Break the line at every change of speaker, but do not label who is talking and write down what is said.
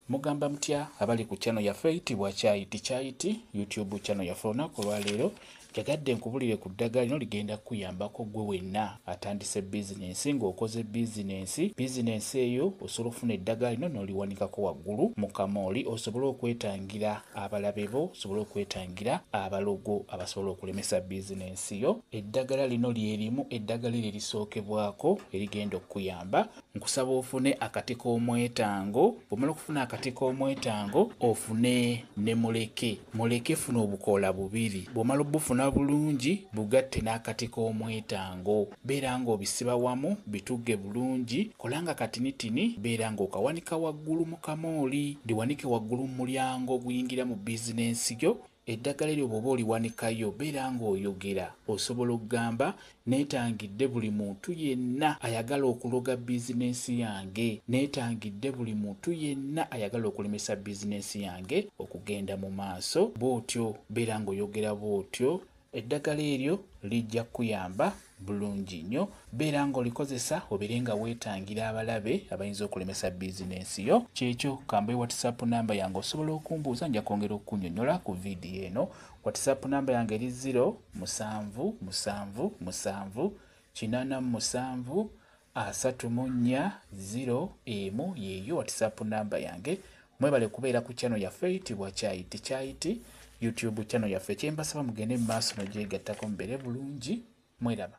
Mugamba mutya abali ku channel yaffe eyitibwa Kyayi Tikyayiti YouTube channel yaffe olunaku olwaleero njagadde nkubulire ku ddagala lino ligenda kukuyambako gwe wenna atandise bizinensi ng'okoze bizinensi bizinensi eyo osobola okufuna eddagala lino n'oliwanikako waggulu mu kamooli osobole okwetangira abalabe bo osobole okwetangira abalogo abasobola okulemesa bizinensi yo eddagala lino lyerimu eddagala eryo erisookebwako erigenda okukuyamba nkusaba ofune akati k'omwetango bwomala okufuna akati k'omwetango ofune ne muleke muleke funa obukoola bubiri bwomala obufuna bulungi bugatte n'akati k'omwetango beera nga obisiba wamu bitugge bulungi kolanga katinitini beera nga okawanika waggulu mu kamooli ndiwanike waggulu mu mulyango oguyingira mu bizinensi yo Eddagala eryo bw'oba oliwanikayo beera ng'oyogera. Osobola okugamba, Neetangidde buli muntu yenna ayagala okuloga bizineesi yange. Neetangidde buli muntu yenna ayagala okulemesa bizineesi yange okugenda mu maaso. Bw'otyo beera ng'oyogera bw'otyo. Eddagala eryo lijja kukuyamba bulungi nnyo. Beera ng'olikozesa obeere nga weetangira abalabe abayinza okulemesa bizinensi yo. Ky'ekyo, kambuwe WhatsApp nnamba yange osobola okumbuuza nja kwongera okukunyonyola ku vidiyo eno. WhatsApp nnamba yange eri ziro musanvu musanvu musanvu kinaana mu musanvu Asatu mu nnya zero emu yeeyo whatsapp number yange mwebale kubeera ku channel yaffe eyitibwa kyayi tekyayiti youtube channel yaffe kyembasaba mugende mu maaso nogyegattako mubeere bulungi mweraba